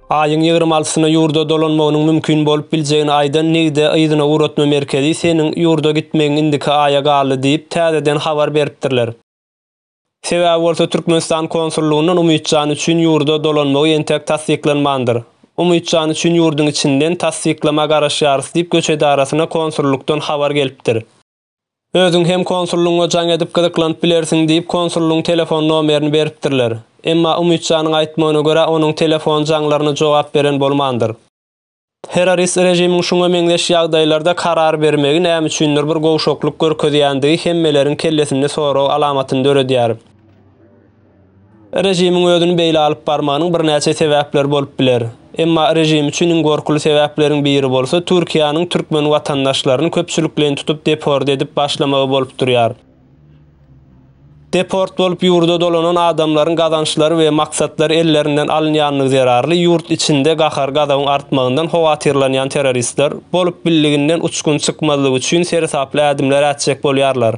Aýyň ýigrimi altysyna ýurda dolanmagynyň mümkin bolup biljegini aýdan Nigde yzyna ugratma merkezi seniň ýurda gitmegiň indiki aýa galdy diýip, täzeden habar beripdirler. Sebäbi bolsa Türkmenistan konsullygyndan Umytjan üçin ýurda dolanmagy entek tassyklanmandyr. Umytjan üçin ýurduň içinden tassyklama garaşýarys diýip göç edarasyna konsullykdan habar gelipdir. Özüň hem konsullygyňa jaň edip gyzyklanyp bilersiň, diýip, konsullygyň telefon nomerini beripdirler. Emma Umytjanyň aýtmagyna görä, onuň telefon jaňlaryna jogap beren bolmandyr. Terrorist režimiň şuňa meňzeş ýagdaýlarda karar bermegi näme üçindir bir gowşaklyk görkezýändigi hemmeleriň kellesinde sorag alamatyny döredýär. Režimiň özüni beýle alyp barmagynyň birnäçe sebäpleri bolup biler. Emma režim üçin iň gorkuly sebäpleriň biri bolsa Türkiýäniň türkmen watandaşlaryny köpçülikleýin tutup deport edip başlamagy bolup durýar. Deport bolup ýurda dolanan adamlaryň gazançlary we maksatlary ellerinden alynýanlygy zerarly ýurt içinde gahar-gazabyň artmagyndan howatyrlanýan terroristler bolup bildiginden uçgun çykmazlyk üçin seresaply ädimler ätjek bolýarlar.